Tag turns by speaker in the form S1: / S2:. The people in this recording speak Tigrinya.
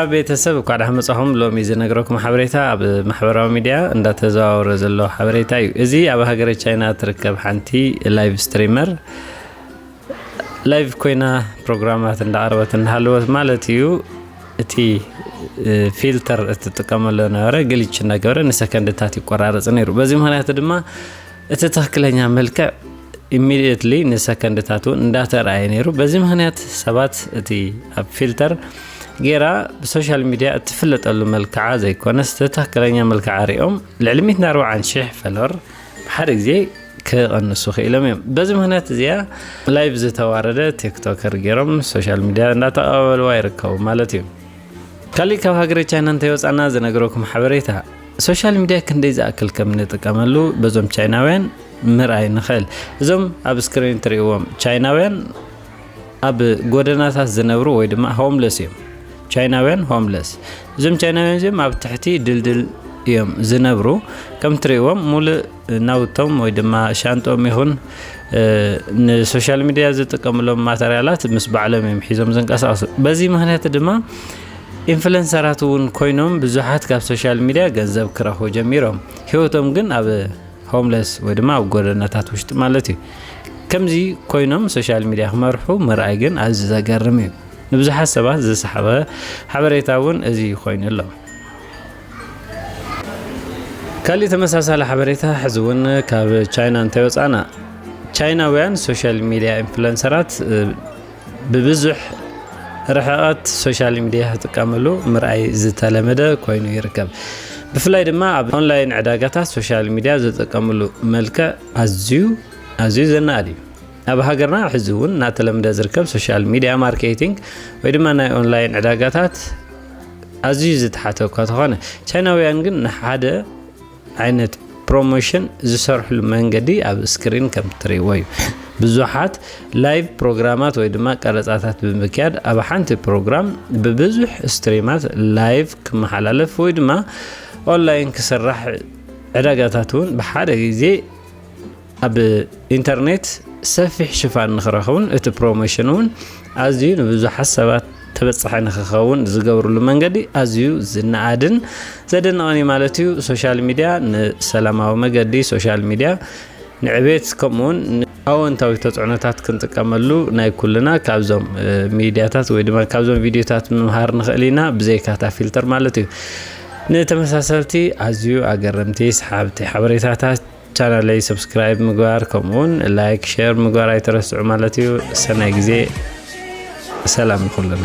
S1: ሰላም ቤተሰብ እኳዕ ዳሓን መጻኹም ሎሚ ዝነግረኩም ሓበሬታ ኣብ ማሕበራዊ ሚድያ እንዳተዘዋወረ ዘሎ ሓበሬታ እዩ እዚ ኣብ ሃገረ ቻይና ትርከብ ሓንቲ ላይቭ ስትሪመር ላይቭ ኮይና ፕሮግራማት እንዳቀረበት እንዳሃለወት ማለት እዩ እቲ ፊልተር እትጥቀመሉ ነበረ ግልች እንዳገበረ ንሰከንድታት ይቆራረፅ ነይሩ በዚ ምክንያት ድማ እቲ ትኽክለኛ መልክዕ ኢሚድየትሊ ንሰከንድታት እውን እንዳተረኣየ ነይሩ በዚ ምክንያት ሰባት እቲ ኣብ ፊልተር ጌራ ብሶሻል ሚድያ እትፍለጠሉ መልክዓ ዘይኮነስ ትክክለኛ መልክዓ ሪኦም ልዕሊ 140 ሽሕ ፈለር ብሓደ ግዜ ክቐንሱ ክኢሎም እዮም በዚ ምክንያት እዚኣ ላይቭ ዝተዋረደ ቲክቶከር ገይሮም ሶሻል ሚድያ እንዳተቐባበልዋ ይርከቡ ማለት እዩ ካሊእ ካብ ሃገረ ቻይና እንተይወፃና ዝነግረኩም ሓበሬታ ሶሻል ሚድያ ክንደይ ዝኣክል ከም እንጥቀመሉ በዞም ቻይናውያን ምርኣይ ንኽእል እዞም ኣብ ስክሪን እትርእይዎም ቻይናውያን ኣብ ጎደናታት ዝነብሩ ወይ ድማ ሆምለስ እዮም ቻይናውያን ሆምለስ እዞም ቻይናውያን እዚኦም ኣብ ትሕቲ ድልድል እዮም ዝነብሩ ከም ትርእይዎም ሙሉእ ናውቶም ወይ ድማ ሻንጥኦም ይኹን ንሶሻል ሚድያ ዝጥቀምሎም ማተርያላት ምስ ባዕሎም እዮም ሒዞም ዝንቀሳቀሱ በዚ ምክንያት ድማ ኢንፍሉንሰራት እውን ኮይኖም ብዙሓት ካብ ሶሻል ሚድያ ገንዘብ ክረኽቡ ጀሚሮም ሂወቶም ግን ኣብ ሆምለስ ወይ ድማ ኣብ ጎደናታት ውሽጢ ማለት እዩ ከምዚ ኮይኖም ሶሻል ሚድያ ክመርሑ ምርኣይ ግን ኣዚ ዘገርም እዩ ንብዙሓት ሰባት ዝሰሓበ ሓበሬታ እውን እዚ ኮይኑ ኣሎ ካሊእ ተመሳሳሊ ሓበሬታ ሕዚ እውን ካብ ቻይና እንተይወፃእና ቻይናውያን ሶሻል ሚዲያ ኢንፍሉንሰራት ብብዙሕ ርሕቐት ሶሻል ሚዲያ ክጥቀምሉ ምርኣይ ዝተለመደ ኮይኑ ይርከብ ብፍላይ ድማ ኣብ ኦንላይን ዕዳጋታት ሶሻል ሚዲያ ዝጥቀምሉ መልክዕ ኣዝዩ ኣዝዩ ዘናኣድ እዩ ኣብ ሃገርና ሕዚ እውን እናተለምደ ዝርከብ ሶሻል ሚድያ ማርኬቲንግ ወይ ድማ ናይ ኦንላይን ዕዳጋታት ኣዝዩ ዝተሓተ እኳ ተኾነ ቻይናውያን ግን ንሓደ ዓይነት ፕሮሞሽን ዝሰርሕሉ መንገዲ ኣብ ስክሪን ከም ትርእይዎ እዩ ብዙሓት ላይቭ ፕሮግራማት ወይ ድማ ቀረፃታት ብምክያድ ኣብ ሓንቲ ፕሮግራም ብብዙሕ ስትሪማት ላይቭ ክመሓላለፍ ወይ ድማ ኦንላይን ክስራሕ ዕዳጋታት እውን ብሓደ ግዜ ኣብ ኢንተርኔት ሰፊሕ ሽፋን ንክረኽቡን እቲ ፕሮሞሽን እውን ኣዝዩ ንብዙሓት ሰባት ተበፃሒ ንክኸውን ዝገብርሉ መንገዲ ኣዝዩ ዝነኣድን ዘደንቕን እዩ ማለት እዩ። ሶሻል ሚድያ ንሰላማዊ መገዲ ሶሻል ሚድያ ንዕቤት ከምኡውን ኣወንታዊ ተፅዕኖታት ክንጥቀመሉ ናይ ኩልና ካብዞም ሚድያታት ወይ ድማ ካብዞም ቪድዮታት ምምሃር ንኽእል ኢና ብዘይካታ ፊልተር ማለት እዩ። ንተመሳሰልቲ ኣዝዩ ኣገረምቲ ሰሓብቲ ሓበሬታታት ቻናለይ ሰብስክራይብ ምግባር ከምኡ ውን ላይክ ሸር ምግባር ኣይትረስዑ ማለት እዩ ሰናይ ግዜ ሰላም ንኩልና